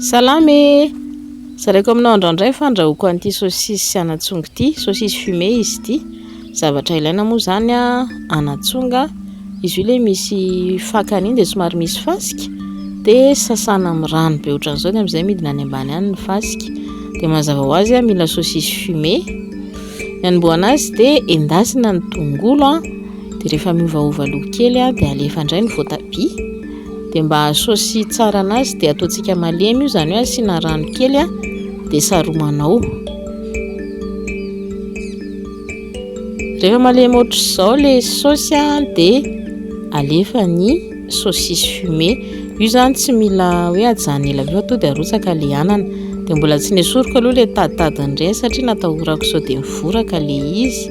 Salama e! Zaraiko aminao andrandray fa andrahoako an'ity saosisy sy anatsonga ity, saosisy fumée izy ity. Zavatra ilaina moa izany anatsonga, izy io ilay misy fakany iny dia somary misy fasika, dia sasana amin'ny rano be ohatran'izao dia amin'izay midina any ambany any ny fasika. Dia mazava ho azy mila saosisy fumée. Ny anombohana azy dia endasina ny tongolo, dia rehefa miovaova loko kely dia alefa indray ny voatabia. Dia mba hahasaosy tsara anazy dia ataontsika malemy io, izany hoe asiana rano kely dia saromanao. Rehefa malemy ohatr'izao ilay saosy dia alefa ny saucisse fumée. Io izany tsy mila hoe ajanona ela be fa tonga dia arotsaka ilay anana. Dia mbola tsy nesoriko aloha ilay taditadiny ireny satria natahorako sao dia mivoraka ilay izy.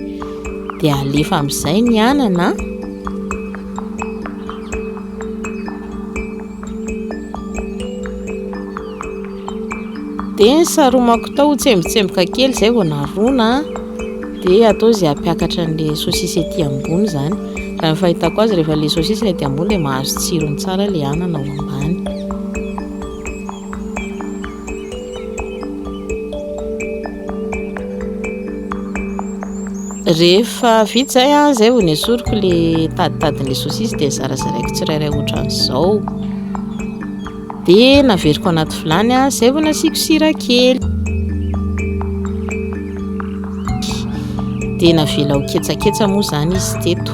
Dia alefa amin'izay ny anana. dia ny saromako tao ho tsembotsemboka kely izay vao narona dia atao izay hampiakatra an'ilay sosisy ety ambony izany raha ny fahitako azy rehefa ilay sosisy ilay ety ambony dia mahazo tsirony tsara ilay anana ao ambany Rehefa vita izay an, izay vao nesoriko le taditadin'le saucisse dia zarazaraiko tsirairay ohatran'izao. Dia naveriko anaty vilany an, izay vao nasiako sira kely. Dia navela ho ketsaketsa moa izany izy teto.